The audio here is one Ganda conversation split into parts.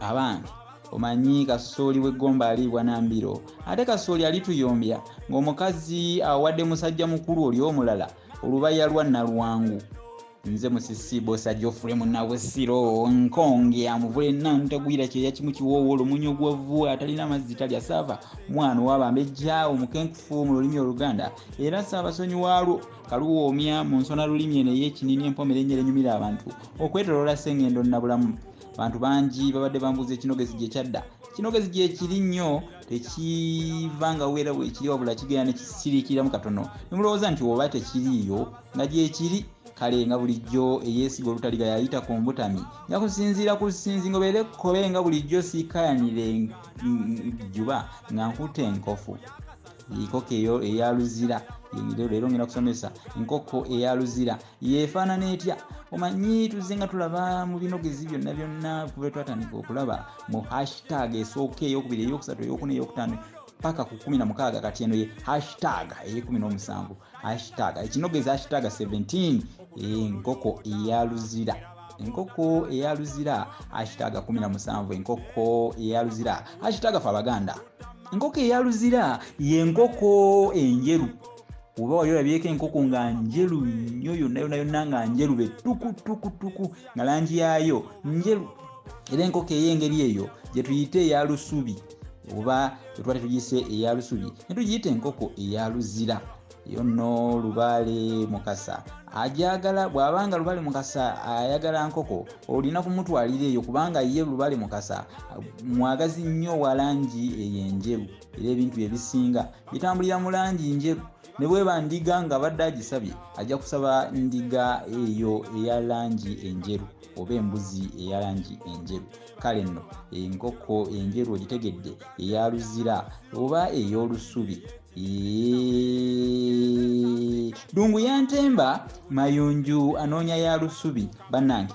abange omanyi kasooli w'eggomba aliibwa na mbiro ate kasooli alituyombya ng'omukazi awadde musajja mukulu oli omulala olubaya lwa nalwangu nze musisi bosa jofule munabusiro nkonge amuvule nantagwira kyeya kimu kiwoowo olumunyi ogwavu atalina mazzi talya saava mwana owabambejja omukenkufu mu lulimi oluganda era saabasonyi waalwo kaluwoomya mu nsona lulimi eno ey'ekinini empomera ennyera enyumira abantu okwetoloola sengendo nabulamu abantu bangi babadde bambuuza ekinogezi gye kyadda kinogezi gyekiri nnyo tekiva nga weera wekiri wabula kigenda nekisiriikiramu katono nemulowooza nti oba tekiriiyo nga gyekiri kale nga bulijjo eyeesiga olutaliga yayita ku mbutami nga kusinziira ku sinzingo beere kkobe nga bulijjo siikayanire juba nga nkuta enkofu enkoko eyo eya luzira leero ngenda kusomesa enkoko eya luzira yeefaanana etya omanyi tuzze nga tulaba mu binogezi byonna byonna kuba twatandika okulaba mu hashtag esooka eyokubiri eyokusatu eyokuna eyokutaano paka ku kumi na mukaaga kati eno ye hashtag eyekumi n'omusanvu hashtag ekinogezi hashtag 17 enkoko eya luzira enkoko eya luzira hashtag 17 enkoko eya luzira hashtag fe abaganda enkoko eya luzira yenkoko enjeru oba wali olabyeko enkoko nga njeru nnyo yonna yonna yonna nga njeru be tukutukutuku nga langi yaayo njeru era enkoko ey'engeri eyo gye tuyita eya lusubi oba etwa tetugise eya lusubi ne tugiyita enkoko eya luzira eyo nno lubaale mukasa ajagala bw'aba nga lubale mukasa ayagala nkoko olina kumutwalira eyo kubanga ye lubale mukasa mwagazi nnyo walangi eyo enjeru era ebintu bye bisinga bitambulira mu langi njeru ne bweba ndiga nga badde agisabye ajja kusaba ndiga eyo eya langi enjeru oba embuzi eya langi enjeru kale nno enkoko enjeru ogitegedde eya luzira oba ey'olusubi dungu yantemba mayunju anoonya ya lusubi bannange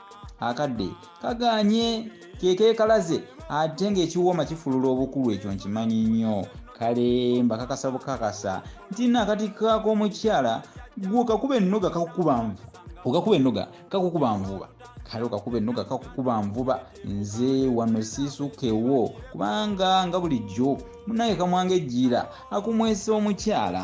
akadde kaganye kekekalaze ate ngaekiwooma kifulula obukulu ekyo nkimanyi nnyo kale mbakakasa bukakasa nti nakati kakomukyala gwo kakuba ennoga kakukuba nvu okakuba ennoga kakukuba nvuba kale okakuba ennoga kakukuba nvuba nze wano siisukewo kubanga nga bulijjo munaye kamwanga ejjiira akumwesa omukyala